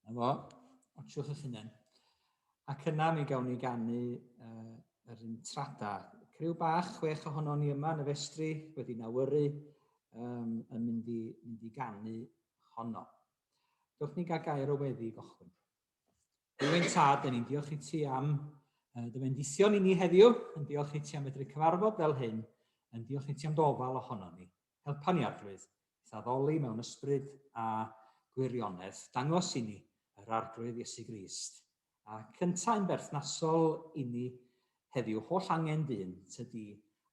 Na fo, otsiwch eich hunain. Ac yna mi gawn ni gannu uh, yr un trada. Criw bach, chwech ohono ni yma yn y festri, wedi nawyru, um, yn mynd i, mynd i gannu honno. Dwch ni gael gair o weddi i gochwyn. Rwy'n tad, yn ni'n diolch i ti am uh, dy fendithion i ni heddiw, yn diolch i ti am fedru cyfarfod fel hyn, yn diolch i ti am dy ofal ohono ni. helpa ni Arglwydd i'th addoli mewn ysbryd a gwirionedd, dangos inni yr Arglwydd Iesu Grist, ac yntau'n berthnasol inni heddiw holl angen dyn tŷ di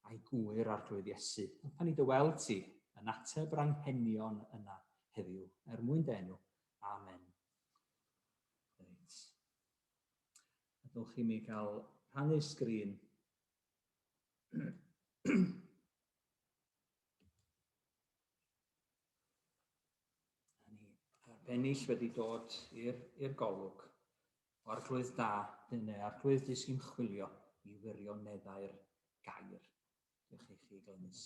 a'i gŵyr Arglwydd Iesu, helpa ni dy weld ti yn ateb yr anghenion yna heddiw er mwyn dy enw. Amen. Reit. Ydwch chi mi gael rhannu sgrin? ennill wedi dod i'r golwg o arglwydd da, dyn neu arglwydd di sy'n chwilio i wirioneddau'r gair. Diolch i chi, Glenys.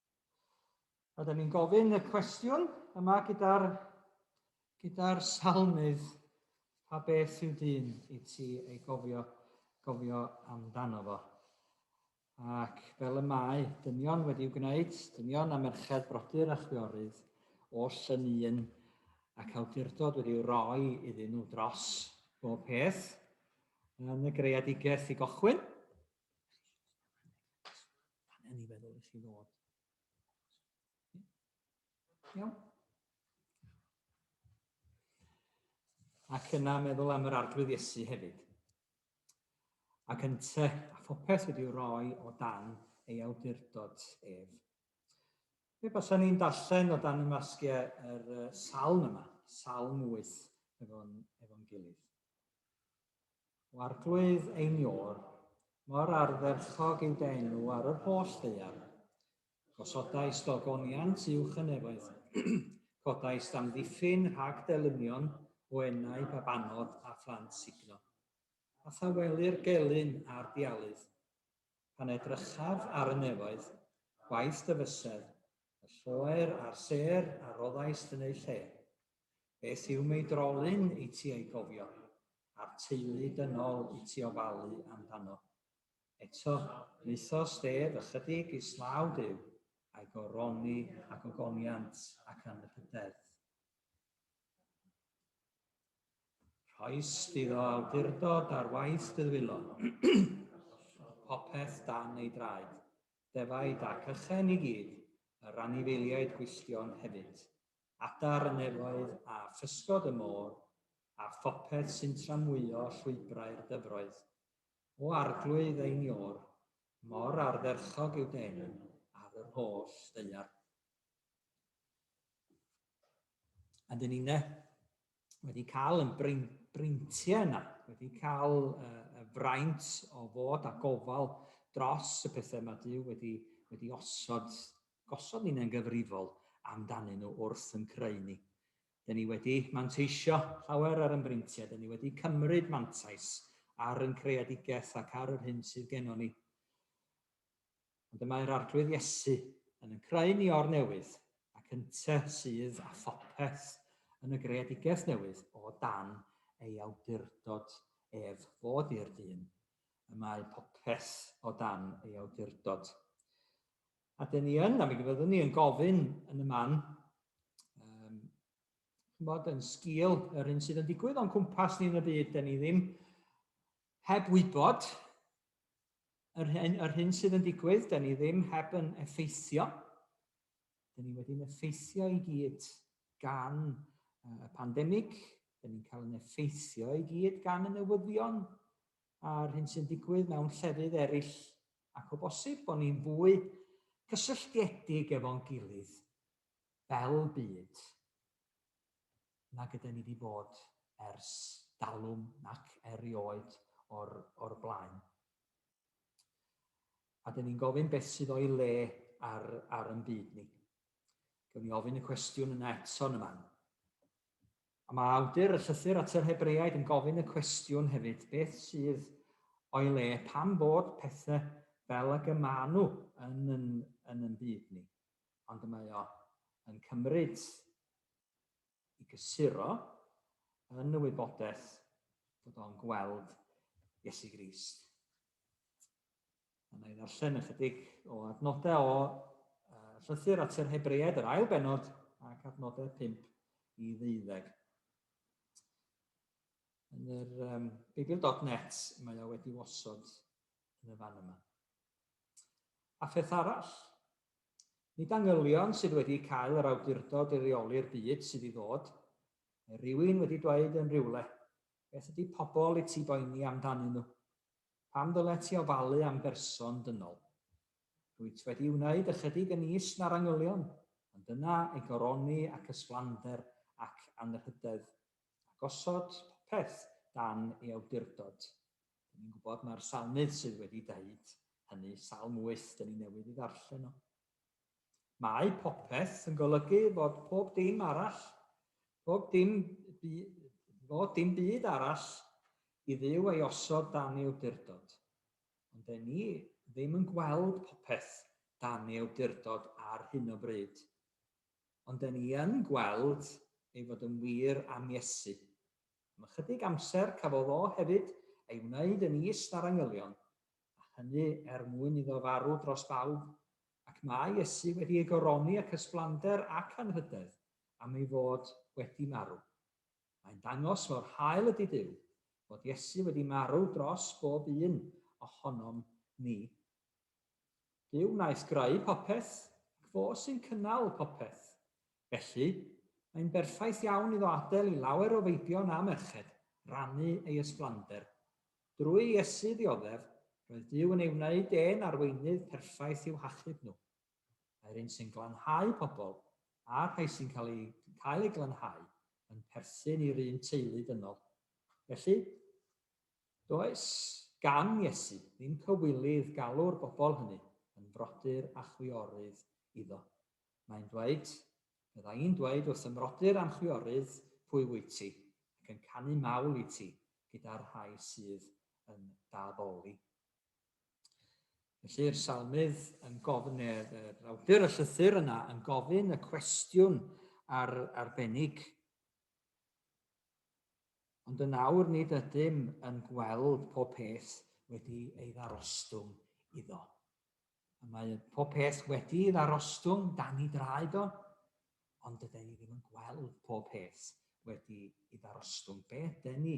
Oedden ni'n gofyn y cwestiwn yma gyda'r gyda salmydd, pa beth yw dyn i ti ei gofio, gofio amdano fo? Ac fel y mae dynion wedi'u gwneud, dynion a merched brodyr a chwiorydd oll yn un ac awdurdod wedi'u roi iddyn nhw dros bob peth yn y greadigaeth i gochwyn. Pan yn i feddwl i chi ddod. Iawn. Ac yna meddwl am yr arglwydd Iesu hefyd. Ac yn te, a phopeth wedi'w roi o dan ei awdurdod ef. Fe basa ni'n darllen o dan y masgiau yr salm yma, salm 8, efo'n efo gilydd. O arglwydd ein iôr, mor ardderchog yw dy enw ar yr holl ddaear. Gosodais dy ogoniant uwch y nefoedd, codais d'amddiffyn rhag dy lynion o enau babanod a phlant sugno. A thawelir gelyn a'r dialydd. Pan edrychaf ar y nefoedd, gwaith dy fysedd, y lloer a'r sêr a roddais yn eu lle, Beth yw mei drolyn i ti ei gofio, a'r teulu dynol i ti ofalu amdano? Eto, maetho Steve ychydig i slaw Duw, a'i goroni ag ogoniant ac anrhydeddf. Rhoes iddo awdurdod ar waith Dyddwylon, llodd popeth dan ei draed, defaid ac ychen i gyd, yr anifeiliaid gwylltion hefyd. adar y nefoedd a physgod y môr, a phopeth sy'n tramwyo llwybrau'r dyfroedd. O arglwydd ein Iôr, mor ardderchog yw dy enw ar yr holl ddaear. A dyn ni'n de, wedi cael yn brein, breintiau yna, wedi cael uh, y fraint o fod a gofal dros y pethau mae Dyw wedi, wedi osod, gosod ni'n engyfrifol amdanyn nhw wrth yn creu ni. Dyna ni wedi manteisio llawer ar ymbreintiau, dyna ni wedi cymryd mantais ar yn creadigaeth ac ar yr hyn sydd gennon ni. ond y mae'r Arglwydd Iesu yn yn creu ni o'r newydd, ac ynte sydd â phopeth yn y greadigaeth newydd o dan ei awdurdod ef fod i'r dyn, y mae popeth o dan ei awdurdod. A dyn ni yn, a mi fyddwn ni yn gofyn yn y man, um, chymod, yn sgil yr un sydd yn digwydd o'n cwmpas ni yn y byd, dyn ni ddim heb wybod yr hyn, yr hyn sydd yn digwydd, da ni ddim heb yn effeithio. Da ni wedi'n effeithio i gyd gan y pandemig, da ni'n cael yn effeithio i gyd gan y newyddion a'r hyn sy'n digwydd mewn llefydd eraill ac o bosib bod ni'n fwy cysylltiedig efo'n gilydd fel byd. nag yden ni 'di bod ers dalwm nac erioed o'r o'r blaen. A 'den ni'n gofyn beth sydd o'i le ar, ar yn byd ni. Gewn ni ofyn y cwestiwn yna eto yn y man. A mae awdur y llythyr at yr Hebreaid yn gofyn y cwestiwn hefyd, beth sydd o'i le pan bod pethau fel ag y maen nhw yn yn, yn yn byd ni. Ond y mae o yn cymryd i gysuro yn y wybodaeth fod o'n gweld Iesu Grist. A na i ddarllen ychydig o adnodau o uh, llythyr at yr Hebreaid, yr ail benod, ac adnodau 5 i ddeuddeg. Yn yr um, Beibl.net mae o wedi osod yn y fan yma. A pheth arall, Nid angylion sydd wedi cael yr awdurdod i reoli'r byd sydd i ddod. Mae rhywun wedi dweud yn rhywle, Beth ydy pobl i ti boeni amdanyn nhw? Pam ddylet ti ofalu am berson dynol? Rwyt wedi wneud ychydig yn is na'r angylion, ond dyna ei goroni ac ysflander ac anrhydedd, a gosod popeth dan ei awdurdod. Dyn ni'n gwybod mae'r salmydd sydd wedi dweud hynny, salm 8, dyn ni newydd i ddarllen o. Mae popeth yn golygu fod pob dim arall, pob dim, fod dim byd arall i ddiw ei osod dan ei awdurdod. Ond dyn ni ddim yn gweld popeth dan ei awdurdod ar hyn o bryd. Ond dyn ni yn gweld ei fod yn wir am Iesu Am ychydig amser cafodd o hefyd ei wneud yn is na'r angylion, a hynny er mwyn iddo farw dros bawb, ac mae Iesu wedi ei goroni ac ysblander ac anrhydedd am ei fod wedi marw. Mae'n dangos mor hael ydy Duw, fod Iesu wedi marw dros bob un ohonom ni. Duw wnaeth greu popeth, ac fo sy'n cynnal popeth. Felly, mae'n berffaith iawn iddo adael i lawer o feibion a merched rannu ei ysblander. Drwy Iesu ddioddef, roedd Duw yn ei wneud e'n arweinydd perffaith i'w hachub nhw. Mae'r un sy'n glanhau pobl, a'r rhai sy'n cael eu cael eu glanhau, yn perthyn i'r un teulu dynol. Felly, Does gan Iesu ddim cywilydd galw'r bobl hynny yn frodyr a chwiorydd iddo. Mae'n dweud, Fydda i'n dweud wrth fy mrodyr a'm chwiorydd pwy wyt ti, ac yn canu mawl i ti gyda'r rhai sydd yn d'addoli. Felly'r salmydd yn gofyn, yr awdur y llythyr yna yn gofyn y cwestiwn ar arbennig. Ond yn awr nid ydym yn gweld pob peth wedi ei ddarostwng iddo. A mae pob peth wedi ei ddarostwng dan ei draed o, ond dyda ni ddim yn gweld pob peth wedi ei ddarostwng. Be ydy ni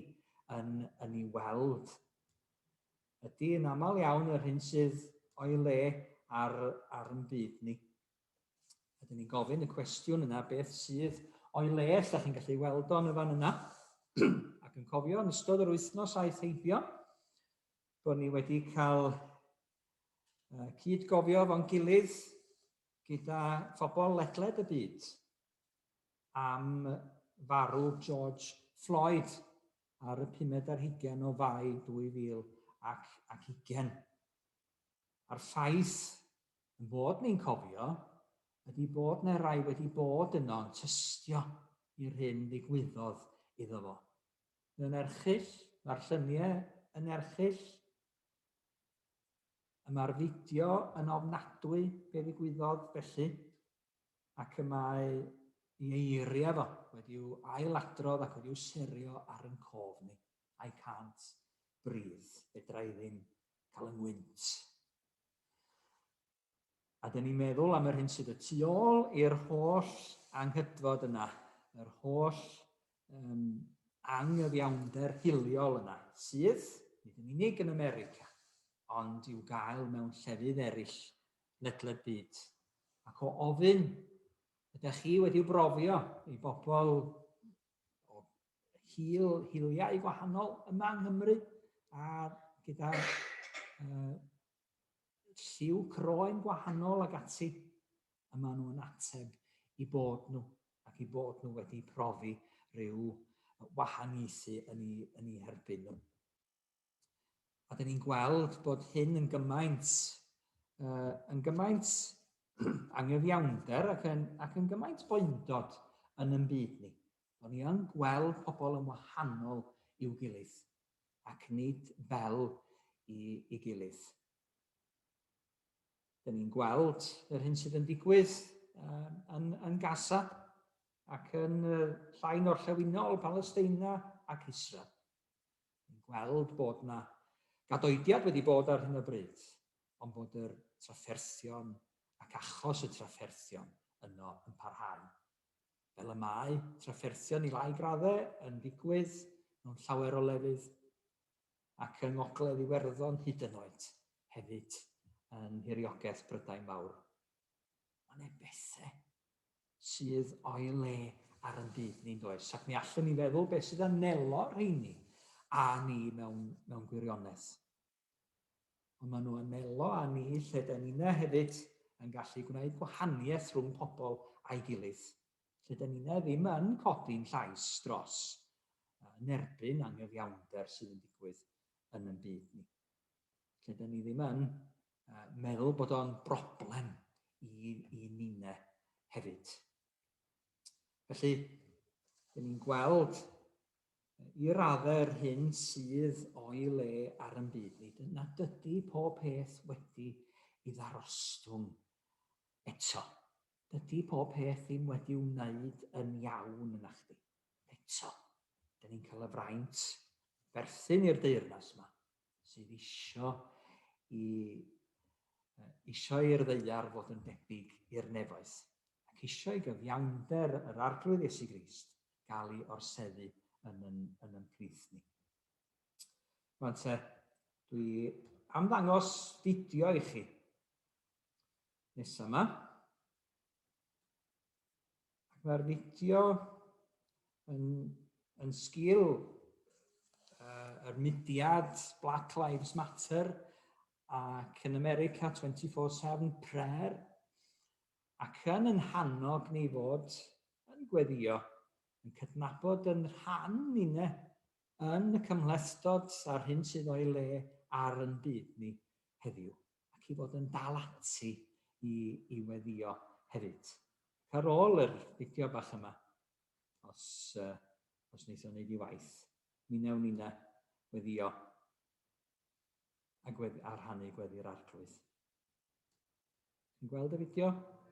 yn, yn ei weld? Ydy yn aml iawn yr hyn sydd o'i le ar, ar yn byd ni. Ydyn ni'n gofyn y cwestiwn yna beth sydd o'i le, os da chi'n gallu weld o'n y fan yna. Ac yn cofio yn ystod yr wythnos aeth heibio, bod ni wedi cael uh, cyd gofio fo'n gilydd gyda phobl ledled y byd am farw George Floyd ar y 5 ar hugen o fai 2000 ac, ac ugen. A'r ffaith Ein bod ni'n cofio ydi bod 'na rai wedi bod yno yn tystio i'r hyn ddigwyddodd iddo fo. Mae o'n erchyll, mae'r llynie yn erchyll, y mae'r fideo yn ofnadwy be ddigwyddodd felly, ac y mae i eiria fo wedi'w ail-adrodd ac wedi'w serio ar yn cof ni. I can't breathe. Fedra i ddim cael 'y ngwynt. A dyn ni'n meddwl am yr hyn sydd y tu ôl i'r holl anghydfod yna, yr holl um, anghyfiawnder hiliol yna, sydd, nid yn unig yn America, ond i'w gael mewn llefydd eraill ledled byd. Ac o ofyn, ydych chi wedi brofio i bobl o hil, hiliau gwahanol yma yng Nghymru a gyda uh, lliw croen gwahanol ag ati a maen nhw'n ateb i bod nhw ac i bod nhw wedi profi rhyw wahaniaethu yn ei, yn ei herbyn nhw. A dyn ni'n gweld bod hyn yn gymaint, uh, yn gymaint anghyfiawnder ac yn, ac yn gymaint boendod yn yn byd ni. Bod ni yn gweld pobl yn wahanol i'w gilydd ac nid fel i, i gilydd. Dyn ni'n gweld yr hyn sydd yn digwydd uh, yn, yn Gaza ac yn uh, llain orllewinol Palesteina ac Israel. ni'n gweld bod yna gadoediad wedi bod ar hyn o bryd, ond bod yr trafferthion ac achos y trafferthion yno yn parhau. Fel y mae trafferthion i lai graddau yn digwydd mewn llawer o lefydd ac yng Ngogledd Iwerddon hyd yn oed hefyd yn nhiriogaeth Brydain Fawr. Mae yna bethe sydd o'i le ar yn byd ni'n does, ac mi allwn ni feddwl beth sydd yn nelo rheini a ni mewn, mewn gwirionedd. Ond maen nhw yn nelo a ni lle da ni'na hefyd yn gallu gwneud gwahaniaeth rhwng pobl a'i gilydd, lle da ni'na ddim yn codi'n llais dros yn erbyn anghyfiawnder sydd yn digwydd yn yn byd ni. Lle da ni ddim yn uh, meddwl bod o'n broblem i, i ninne hefyd. Felly, dyn ni'n gweld i raddau yr hyn sydd o'i le ar yn byd ni, dyna dydy pob peth wedi i ddarostwng eto. Dydy pob peth ddim wedi wneud yn iawn yna chdi. Eto, dyn ni'n cael y fraint berthyn i'r deyrnas yma. sydd isio i isio i'r ddeiar fod yn debyg i'r nefoedd, ac isio i gyfiawnder yr Arglwydd Iesu Grist gael ei orseddu yn yn, yn yn plith ni. Rwan te, dwi am ddangos fideo i chi. Nesa yma. Ac mae'r fideo yn, yn sgil uh, yr mudiad Black Lives Matter ac yn America 24-7 prayer ac yn yn hannog ni fod yn gweddio, yn cydnabod yn rhan ni'n yn y cymhlethdod a'r hyn sydd o'i le ar yn byd ni heddiw. ac i fod yn dal ati i, i weddio hefyd. Ac ar ôl yr fideo bach yma, os, uh, os wneith o'n neud i waith, mi newn ni na weddio a, gweddi, a rhannu gweddi'r arglwydd. Ti'n gweld y fideo?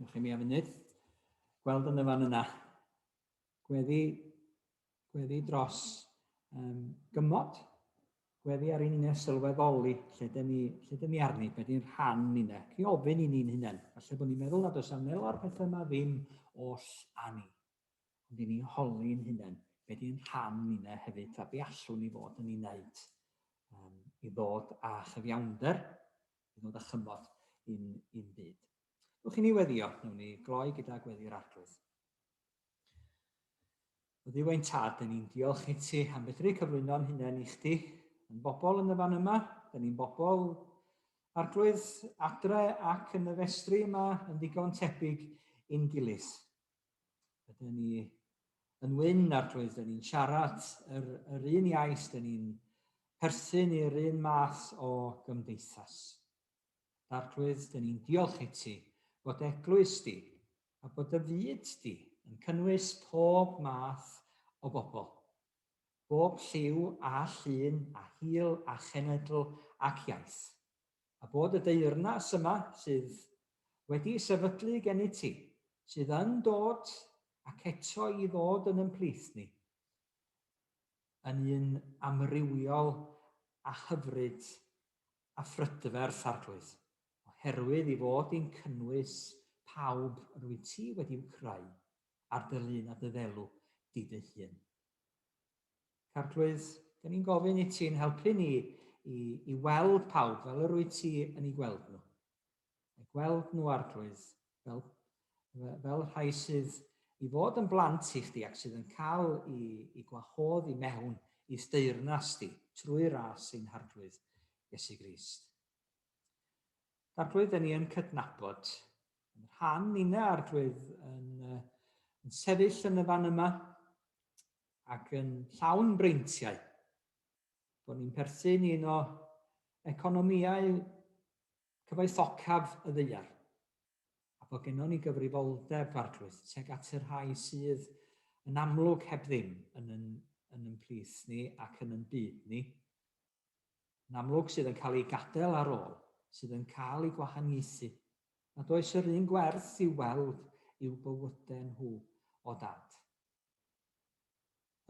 Ewch i mi am funud. Gweld yn y fan yna. gweddi, gweddi dros um, gymod, gweddi ar un sylweddoli lle dyn ni, lle dyn ni arni, beth ni'n rhan ni ne, chi ofyn i ni'n hunain, falle bod ni'n meddwl nad oes am nel o'r pethau yma ddim oll a ni, ond i ni holi'n hunain, beth ni'n rhan ni ne hefyd, a be allwn ni fod yn ei wneud um, i ddod â chyfiawnder, i ddod â chymod i'n, in byd. Dwi'n chi'n ni weddio, newn ni gloi gyda gweddi'r arglwydd. Oedd yw ein tad, dyn ni'n diolch i ti am fedru cyflwyno'n hunain i chdi. Yn bobl yn y fan yma, dyn ni'n bobl arglwydd adre ac yn y festri yma yn ddigon tebyg i'n gilydd. Ydyn ni yn wyn arglwydd, dyn ni'n siarad yr, yr un iaith, dyn ni'n perthyn i'r un math o gymdeithas. Arglwydd, dyn ni'n diolch i ti bod eglwys di a bod dy fyd di yn cynnwys pob math o bobl, bob lliw a llun a hil a chenedl ac iaith, a bod y deyrnas yma sydd wedi sefydlu gennyt ti, sydd yn dod ac eto i ddod yn yn plith ni, yn un amrywiol a hyfryd a phrydferth, Arglwydd, oherwydd ei fod hi'n cynnwys pawb yr wyt ti wedi'u creu ar dy lun a dy ddelw di dy hun. Ac Arglwydd, da ni'n gofyn i ti'n helpu ni i, i weld pawb fel yr wyt ti yn ei gweld nhw. eu gweld nhw Arglwydd, fel, fel rhai sydd i fod yn blant i chdi ac sydd yn cael i, i gwahodd i mewn i steirnas di trwy ras ein Harglwydd Iesu Grist. Arglwydd, dyn ni yn cydnabod yn rhan nina Arglwydd yn, yn sefyll yn y fan yma ac yn llawn breintiau bod ni'n perthyn un o economïau Cyfoethocaf y ddaear, a bod gennon ni gyfrifoldeb farglwydd tuag at y rhai sydd yn amlwg heb ddim yn yn yn yn plith ni ac yn yn byd ni, yn amlwg sydd yn cael eu gadael ar ôl, sydd yn cael eu gwahaniaethu, nad oes yr un gwerth i'w weld i'w bywydau nhw o dad.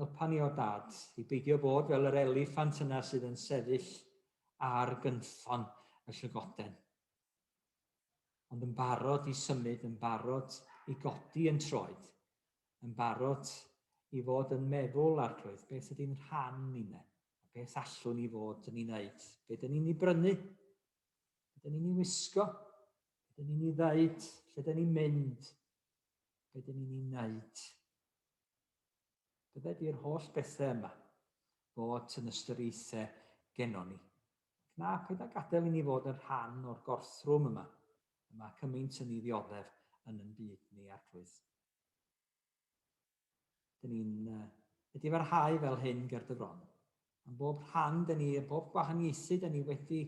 Helpa ni o Dad, i beidio bod fel yr eliffant yna sydd yn sefyll ar gynffon y llygoden, ond yn barod i symud, yn barod i godi yn troed, yn barod i fod yn meddwl, Arglwydd, beth ydy'n rhan ninne, a beth allwn ni fod yn ei wneud, be dyn ni'n ei brynu, be dyn ni'n ei wisgo, be dyn ni'n ei ddeud, lle dyn ni'n mynd, be dyn ni'n ei wneud. Byddet i'r holl bethau yma fod yn ystyriaethau gennon ni. Ac na, paid â gadael i ni fod yn rhan o'r gorthrwm yma, y mae cymaint yn ei ddioddef yn yn byd ni, Arglwydd. Dyn ni'n wedi parhau fel hyn ger dy fron. Am bob rhan dyn ni, a bob gwahaniaethu dyn ni wedi,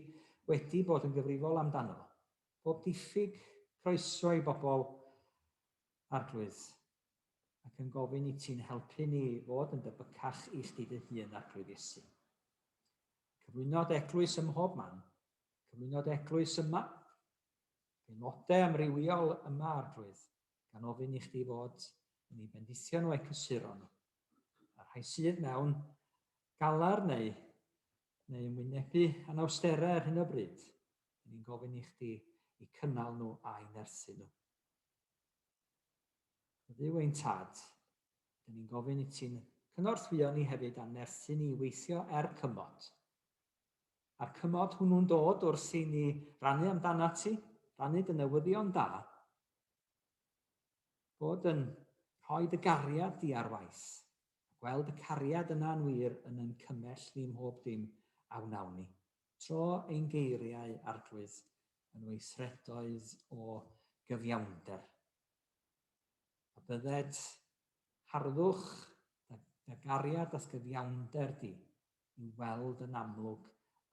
wedi bod yn gyfrifol amdano fo. Bob diffyg croeso i bobl, Arglwydd, ac yn gofyn i ti'n helpu ni fod yn debycach i chdi dy hun ar Grib Iesu. Cyflwynodd eglwys ym mhob man, cyflwynodd eglwys yma, aelodau amrywiol yma ar drwydd, gan ofyn i chdi fod yn ei bendithion o ecysuron, a rhai sydd mewn galar neu, neu yn wynebu anawsterau ar hyn o bryd, ni'n gofyn i chdi i cynnal nhw a'i nerthu nhw. Ydyw ein tad. Dyn ni'n gofyn i ti'n cynorthwyo ni hefyd a nerthu ni i weithio er cymod. A'r cymod hwnnw'n dod wrth i ni rannu amdanat ti, rannu dy newyddion da, bod yn rhoi dy gariad di ar waith, a gweld y cariad yna'n wir yn yn cymell ni mhob dim a wnawn ni. Tro ein geiriau, Arglwydd, yn weithredoedd o gyfiawnder. A bydded harddwch dy gariad ath gyfiawnder di i'w weld yn amlwg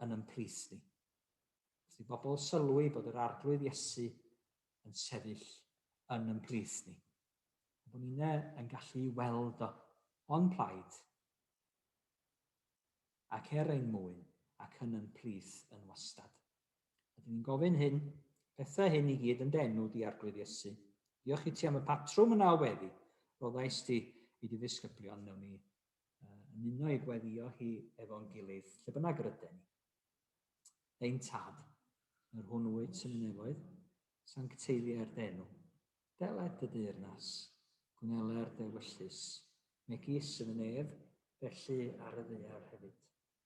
yn yn plith di. Os di bobl sylwi bod yr arglwydd Iesu yn sefyll yn yn plith ni, a bod ni'n yn gallu weld o o'n plaid ac er ein mwyn ac yn yn plith yn wastad. A dyn ni'n gofyn hyn, pethau hyn i gyd yn denw di arglwydd Iesu. Diolch i ti am y patrwm yna o weddi. Roddais ti i dy ddisgyblion mewn i yn uno i gweddio hi efo'n gilydd, lle bynnag yr yden ni. Dein tad, yr hwn wyt yn y nefoedd, sancteiliau'r denw. Deled dy deyrnas, gwneler dewyllus, megis yn y nef, felly ar y ddeiar hefyd.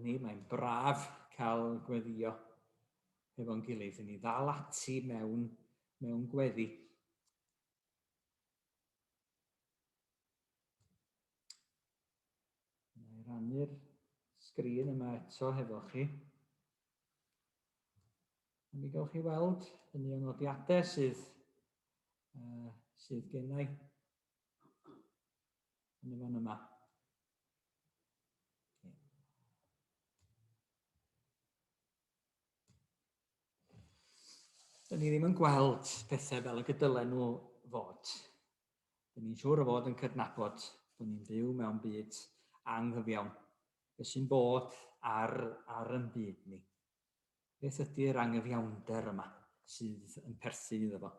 ni, mae'n braf cael gweddio hefo'n gilydd, i ni ddal ati mewn, mewn gweddi. Mae'n rannu'r sgrin yma eto hefo chi. A mi gawch chi weld yn un o'r nodiadau sydd uh, sydd gennau yn y fan yma. Dyn ni ddim yn gweld pethau fel y gydylen nhw fod. Dyn ni'n siŵr o fod yn cydnabod bod ni'n byw mewn byd anghyfiawn. Beth sy'n bod ar, ar yn byd ni. Beth ydy'r angyfiawnder yma sydd yn perthyn iddo fo?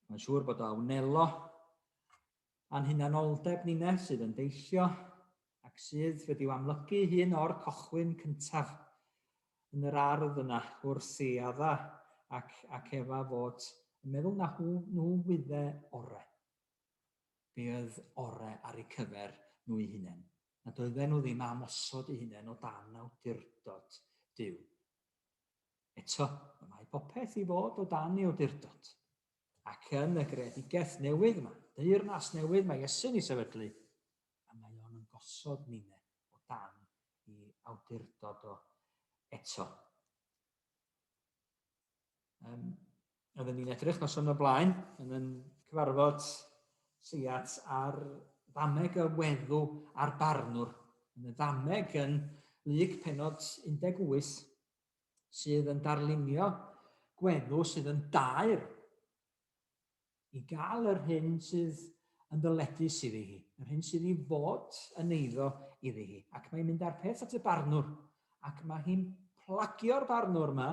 Mae'n siŵr bod o awnelo a'n hunanoldeb ninne sydd yn deillio ac sydd wedi'w amlygu hun o'r cochwyn cyntaf yn yr ardd yna wrth i Adda ac, ac Efa fod yn meddwl na hw, nhw wydde ore. Be oedd ore ar eu cyfer nhw'i hunain. nad oedden nhw ddim am osod eu hunain o dan awdurdod Duw. Eto, y mae popeth i fod o dan ei awdurdod. Ac yn y greadigaeth newydd yma, deyrnas newydd mae Iesu'n ei sefydlu, a mae o'n yn gosod nine o dan i awdurdod o eto. Um, roedden ni'n edrych nos o'n y blaen yn yn cyfarfod seiat ar ddameg y weddw a'r barnwr. Yn y ddameg yn lyg penod 18 sydd yn darlunio gweddw sydd yn daer i gael yr hyn sydd yn ddyledus iddi hi, yr hyn sydd i fod yn eiddo iddi hi. Ac mae'n mynd â'r peth at y barnwr, ac mae hi'n plagio'r barnwr yma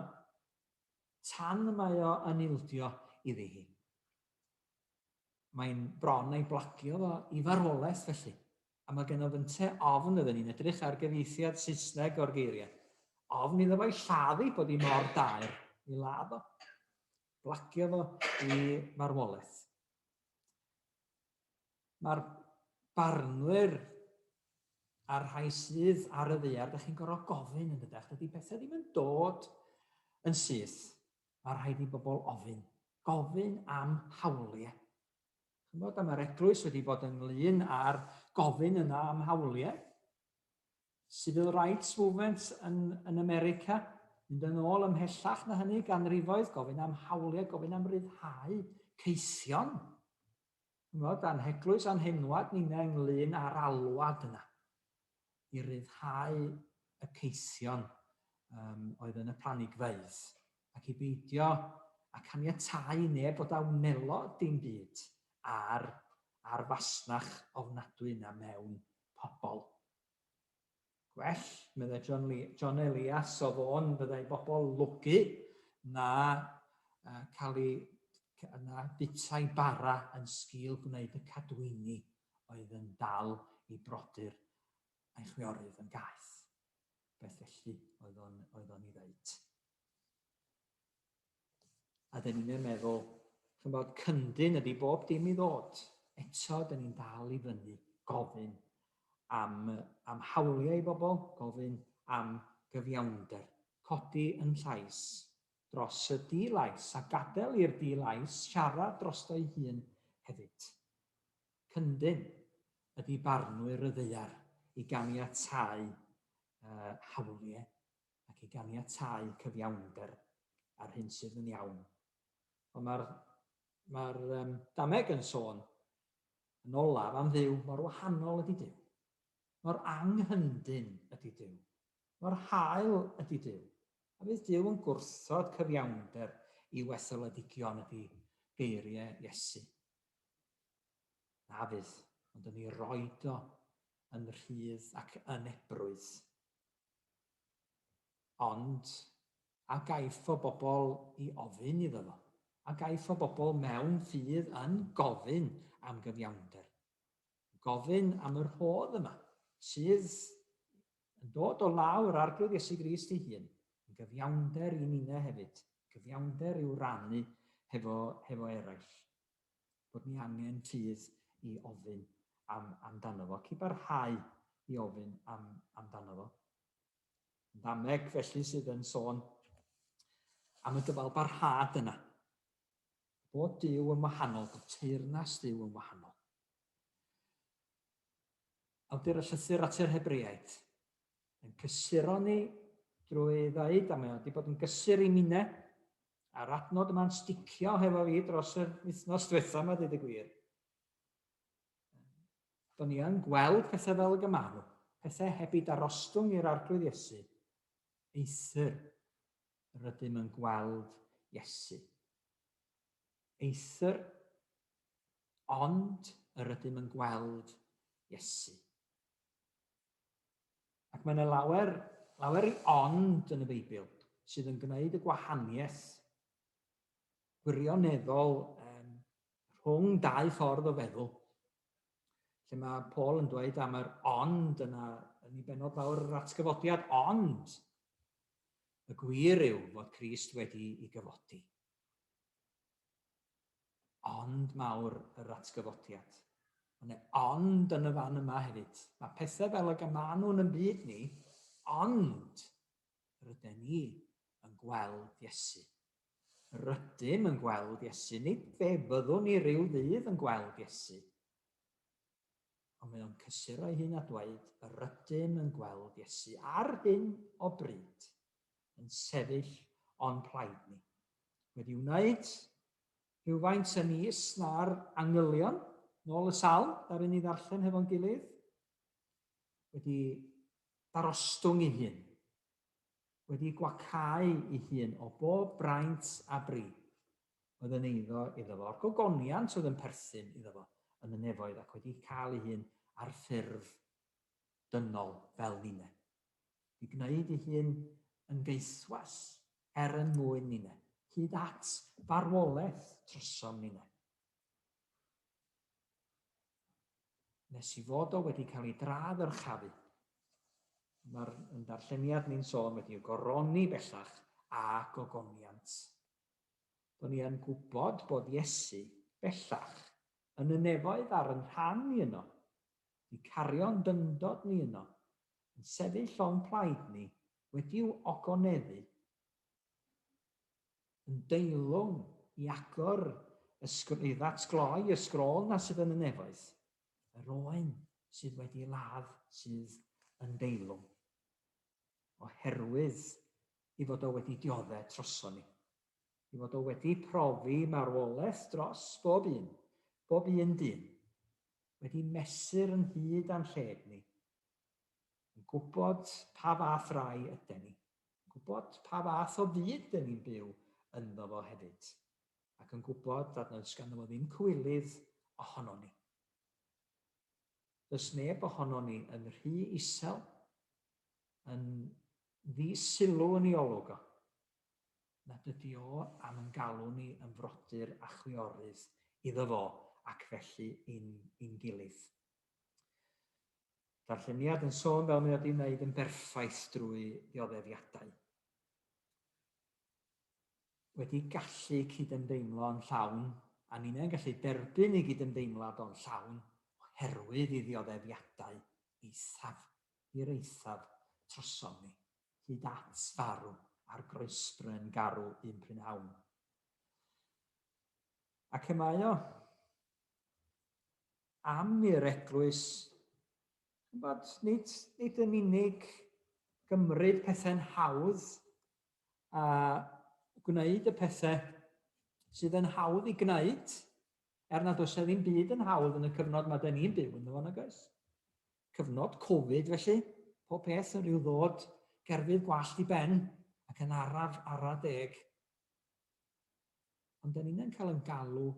tan mae o yn ildio iddi hi. Mae'n bron ei blagio fo i farwolaeth felly. A mae gennyf ynte ofn ydyn ni'n edrych ar gyfieithiad Saesneg o'r geiriau. Ofn iddo fo'i lladd i bod i mor daer i ladd o. Blacio fo i farwolaeth. Mae'r barnwyr a'r rhai sydd ar y ddear, da chi'n gorfod gofyn yn dydech, dydy pethau ddim yn dod yn syth. Mae rhaid i bobl ofyn. Gofyn am hawliau. Chymod, a mae'r eglwys wedi bod ynglyn â'r gofyn yna am hawliau. Civil Rights Movement yn, yn America, mynd yn ôl ymhellach na hynny, ganrifoedd, gofyn am hawliau, gofyn am ryddhau ceision. Ymwneud â'n heglwys a'n henwad ninnau ynglyn â'r alwad yna i ryddhau y ceision um, oedd yn y planigfeydd ac i beidio a caniatau i neb bod a wnelo dim byd ar, ar fasnach ofnadwy yna mewn pobl Gwell, meddai John, Lee, John Elias o Fôn, fyddai bobl lwgu na uh, cael ei na butau bara yn sgil gwneud y cadwyni oedd yn dal i brodyr a'i chwiorydd yn gaeth. Beth felly oedd o'n, oedd o'n i ddeud? A dyn ni'n meddwl, chi'n bod, cyndyn ydy bob dim i ddod. Eto, dyn ni'n dal i fyny gofyn am, am hawliau i bobl, gofyn am gyfiawnder, codi yn llais dros y di-lais a gadael i'r di-lais siarad drosto'i hun hefyd. Cyndyn ydy barnwyr y ddeiar i ganiatau uh, hawliau ac i ganiatáu cyfiawnder a'r hyn sydd yn iawn. Ond mae'r ma um, dameg yn sôn yn olaf am ddiw mor wahanol ydy diw. Mor anghyndyn ydy diw. Mor hael ydy diw. A bydd diw yn gwrthod cyfiawnder i wetholedigion ydy geiriau Iesu. Na fydd, ond yn ei roed o yn rhydd ac yn ebrwydd. Ond, a gaiff o bobl i ofyn iddo fo? A gaiff o bobl mewn ffydd yn gofyn am gyfiawnder? Gofyn am yr rhodd yma, sydd yn dod o law yr Arglwydd Iesu Grist ei hun, yn gyfiawnder i ninne hefyd, gyfiawnder i'w rannu hefo, hefo eraill. bod ni angen tuedd i ofyn am, amdano fo, ac i barhau i ofyn am, amdano fo. Dameg felly sydd yn sôn am y dyfal barhad yna. Bod Dyw yn wahanol, bod teyrnas Dyw yn wahanol. Awdur y llythyr at yr Hebreaid, yn cysuro ni drwy ddeud, a mae o wedi bod yn gysur i minne, a'r adnod yma'n sticio hefo fi dros yr wythnos diwetha yma, dweud y gwir. Do'n ni yn gweld pethau fel y gymaru, pethau heb i darostwng i'r arglwydd Iesu, eithr rydym yn gweld Iesu. Eithr, ond yr ydym yn gweld Iesu. Ac mae yna lawer, lawer i ond yn y Beibl sydd yn gwneud y gwahaniaeth gwirioneddol um, rhwng dau ffordd o feddwl. Lle mae Paul yn dweud am yr ond yna yn ei benod fawr yr atgyfodiad, ond y gwir yw fod Christ wedi i gyfodi. Ond mawr yr atgyfodiad. Ond e, ond yn y fan yma hefyd. Mae pethau fel ag y maen nhw'n yn byd ni, ond ryden ni yn gweld Iesu. Rydym yn gweld Iesu, nid fe fyddwn ni rhyw ddydd yn gweld Iesu. Ond mae o'n cysuro ei hun a dweud, rydym yn gweld Iesu ar hyn o bryd. yn sefyll o'n plaid ni. Wedi wneud rhywfaint yn is na'r angylion, nôl y sal, ddaru ni ddarllen hefo'n gilydd. Wedi darostwng i hun. Wedi gwacau i hun o bob braint a bri. Oedd yn eiddo iddo fo, o'r gogoniant oedd yn perthyn iddo fo yn y nefoedd ac wedi cael ei hun ar ffurf dynol fel ninne. i gwneud ei hun yn geiswas er yn mwyn ninne, hyd at farwolaeth trysom ninne. Nes i fod o wedi cael ei dra ddyrchafu. Mae'r yn darlleniad ni'n sôn wedi y goroni bellach a gogoniant. Do'n i yn gwybod bod Iesu bellach yn y nefoedd ar yn rhan i yno, 'di cario'n dyngdod ni yno, yn sefyll llon plaid ni wedi'w ogoneddu yn deilwng i agor y sgr- i ddatgloi y sgrôl 'na sydd yn y nefoedd, yr oen sydd wedi ladd sydd yn deilwng, oherwydd 'i fod o wedi diodde' troson ni, 'i fod o wedi profi marwoleth dros bob un, bob un dyn, wedi mesur yn hyd a'n lled ni, yn gwybod pa fath rai yden ni, yn gwybod pa fath o fyd dyn ni'n byw ynddo fo hefyd, ac yn gwybod nad oes ganddo fo ddim cywilydd ohonon ni. Does neb ohonon ni yn rhy isel, yn ddi-sylw yn ei olwg o, nad ydy o am yn galw ni yn frodyr a chwiorydd iddo fo ac felly yn i'n gilydd. Darlleniad yn sôn fel mae o di wneud yn berffaith drwy ddioddefiadau. Wedi gallu cydymdeimlo yn llawn, a ninnau'n gallu derbyn ei gydymdeimlad o'n llawn oherwydd i ddioddefiadau eithaf i'r eithaf trosom ni. hyd at farw ar groesbryn garw un prynhawn. Ac y mae o am i'r eglwys, bod nid, nid yn unig gymryd pethau'n hawdd a gwneud y pethau sydd yn hawdd i gwneud, er nad oes e ddim byd yn hawdd yn y cyfnod mae dyn ni'n byw yn ddod, nag oes? Cyfnod Covid felly, pob peth yn rhyw ddod gerfydd gwallt i ben ac yn araf ara deg. Ond da ni'n cael yn galw,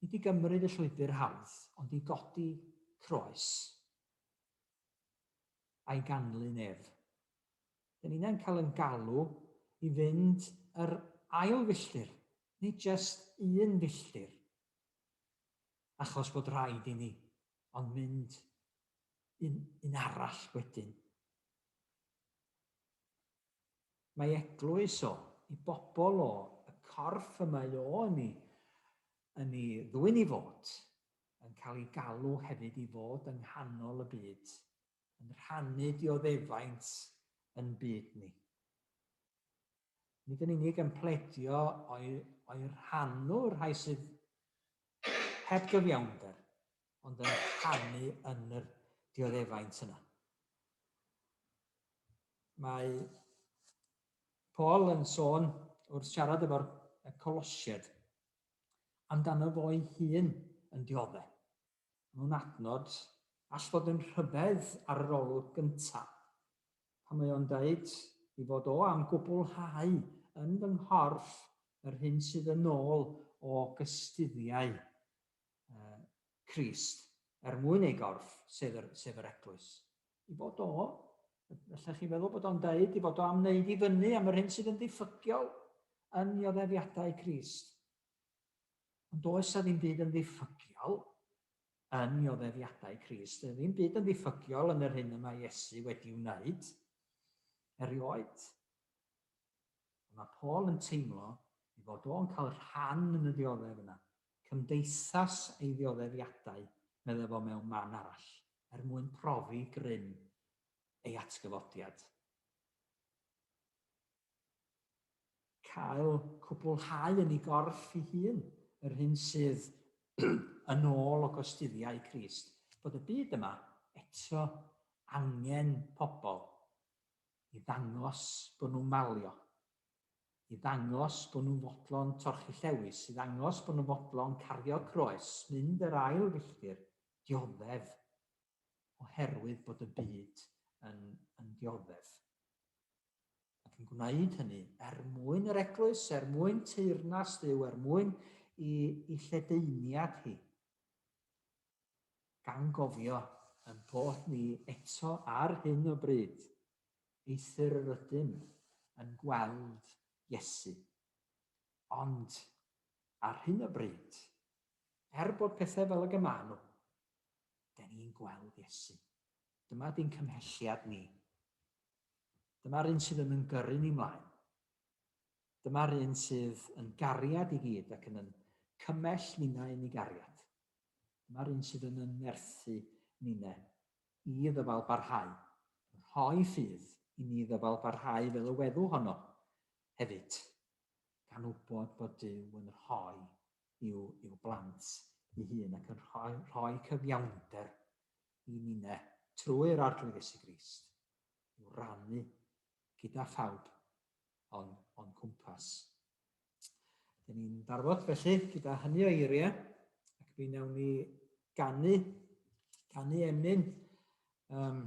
nid i gymryd y llwybr hawdd, ond i godi croes a'i ganlyn ef. Da ni'n cael yn galw i fynd yr ail filltir, nid jest un filltir. achos bod rhaid i ni ond mynd un, un arall wedyn. Mae eglwys o, i bobl o, y corff y mae o yn ni, yn ni ddwy'n i fod, yn cael ei galw hefyd i fod yng nghanol y byd, yn rhannu dioddefaint yn byd ni. nid yn unig yn pledio o'i, o'i rhannu rhai sydd heb gyfiawnder, ond yn rhannu yn yr dioddefaint yna. Mae Paul yn sôn wrth siarad efo'r Colosied amdano fo'i hun yn diodde. mewn adnod all fod yn rhyfedd ar yr olwg gyntaf, pan mae o'n deud ei fod o am gwblhau yn fy nghorff yr hyn sydd yn ôl o gystuddiau Crist er mwyn ei gorff, sef yr, sef yr Eglwys. Ei fod o, felly chi'n meddwl bod o'n deud, ei fod o am wneud i fyny am yr hyn sydd yn ddiffygiol yn nioddefiadau Crist. Ond does 'na ddim byd yn ddiffygiol yn nioddeddiadau Crist. Does 'na ddim byd yn ddiffygiol yn yr hyn y mae Iesu wedi wneud erioed. Ond mae Paul yn teimlo ei fod o'n cael rhan yn y ddioddef yna. Cymdeithas ei ddioddeddiadau, meddai fo mewn man arall, er mwyn profi grym ei atgyfodiad. cael cwblhau yn ei gorff ei hun yr hyn sydd yn ôl o gosturiau Crist, bod y byd yma eto angen pobl i ddangos bod nhw'n malio, i ddangos bod nhw'n fodlon torchi llewys, i ddangos bod nhw'n fodlon cario croes, mynd yr ail filltir, dioddef, oherwydd bod y byd yn, yn dioddef. ac yn gwneud hynny er mwyn yr Eglwys, er mwyn teyrnas Dduw, er mwyn i i lledaeniad hi, gan gofio ein bod ni eto ar hyn o bryd, eithr yr ydym yn gweld Iesu, ond ar hyn o bryd, er bod pethau fel ag y maen nhw, dyn ni'n gweld Iesu. Dyma di'n cymhelliad ni, Dyma'r un sydd yn yn gyrru ni mlaen. Dyma'r un sydd yn gariad i gyd ac yn yn cymell ninau yn ei gariad. Dyma'r un sydd yn yn nerthu nine i ddyfal barhau, yn rhoi ffydd i ni ddyfal barhau fel y weddw honno hefyd, gan wybod fod Duw yn rhoi i'w, i'w blant i hun ac yn rhoi, rhoi cyfiawnder i ninne trwy'r Arglwydd Iesu Grist i'w rannu gyda phawb o'n, on cwmpas. Dyn ni'n barfod felly gyda hynny o eiriau ac mi wnawn ni ganu, ganu emyn. Um,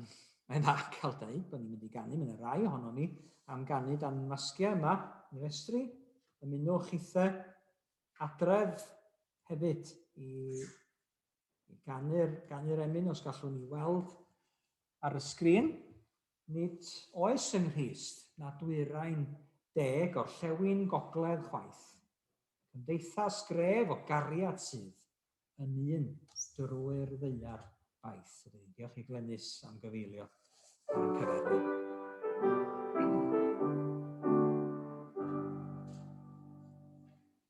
mae'n dda cael dweud bod ni'n mynd i ganu, mae'n rai ohono ni am ganu dan masgiau yma yn yr estri. Ymunwch chithe adref hefyd i Ganu'r, ganu'r emyn os gallwn ni weld ar y sgrin. Nid oes yng Nghrist na dwyrain de gorllewin gogledd chwaith. Cymdeithas gref o gariad sydd yn un drwy'r ddeuar baith. Diolch i Glenys am gyfeilio ar y cyfarfod.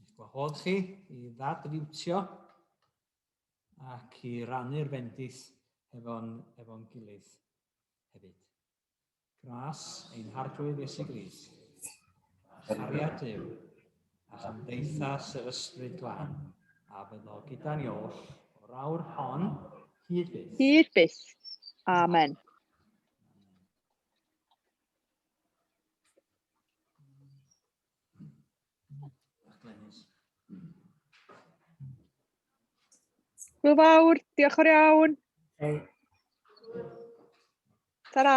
Eich gwahodd chi i ddadfiwtio ac i rannu'r fendith efo'n efo gilydd hefyd. Gras ein harglwydd Iesu Gris, cariad Dyw, a chymdeithas yr ysbryd glân, a fyddo gyda ni oll o'r awr hon hyd byth. Hyd byth. Amen. Hwyl fawr, diolch o'r iawn. Hey. Ta-ra.